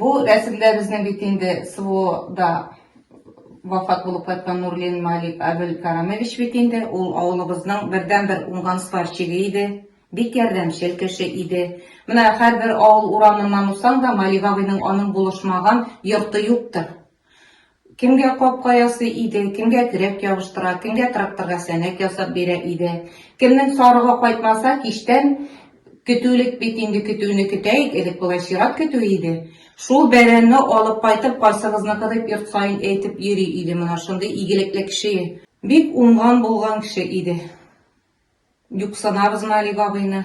Бу рәсемдә безнең бит инде СВОда вафат булып кайткан Нурлин Малик Абелкарамович бит инде, ул авылыбызның бердәнбер уңган сварщигы иде, бик ярдәмчел кеше иде. Менә һәрбер авыл урамыннан узсаң да, Малик абыйның аның булышмаган йорты юктыр. Кемгә капка ясый иде, кемгә терәк ябыштыра, кемгә тракторга сәнәк ясап бирә иде. Кемнең сарыгы кайтмаса, кичтән көтүлек бит инде көтүне көтәйек, элек болай чират көтү иде. Шул бәрәнне алып кайтып, кайсыгызныкы дип йорт саен әйтеп йөри иде менә шундый игелекле кеше. Бик уңган-булган кеше иде. Юксынабызмы әлеге абыйны?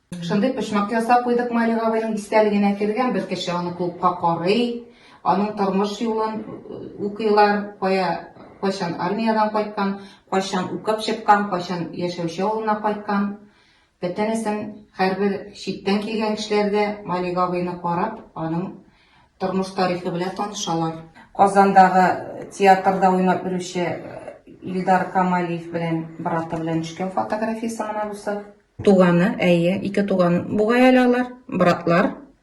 Шундый почмак ясап куйдык Мари Гавайның истәлегенә кергән бер кеше аны клубка карый, аның тормыш юлын э, укыйлар, кая кайчан армиядән кайткан, кайчан укып чыккан, кайчан яшәүче авылына кайткан. Бөтенесен һәрбер читтән килгән кешеләр дә Мари Гавайны карап, аның тормыш тарихы белән танышалар. Казандагы театрда уйнап йөрүче Илдар Камалиев белән браты белән төшкән фотографиясе менә бусы. Туганы, әйе, ике туган бугай әле алар, братлар.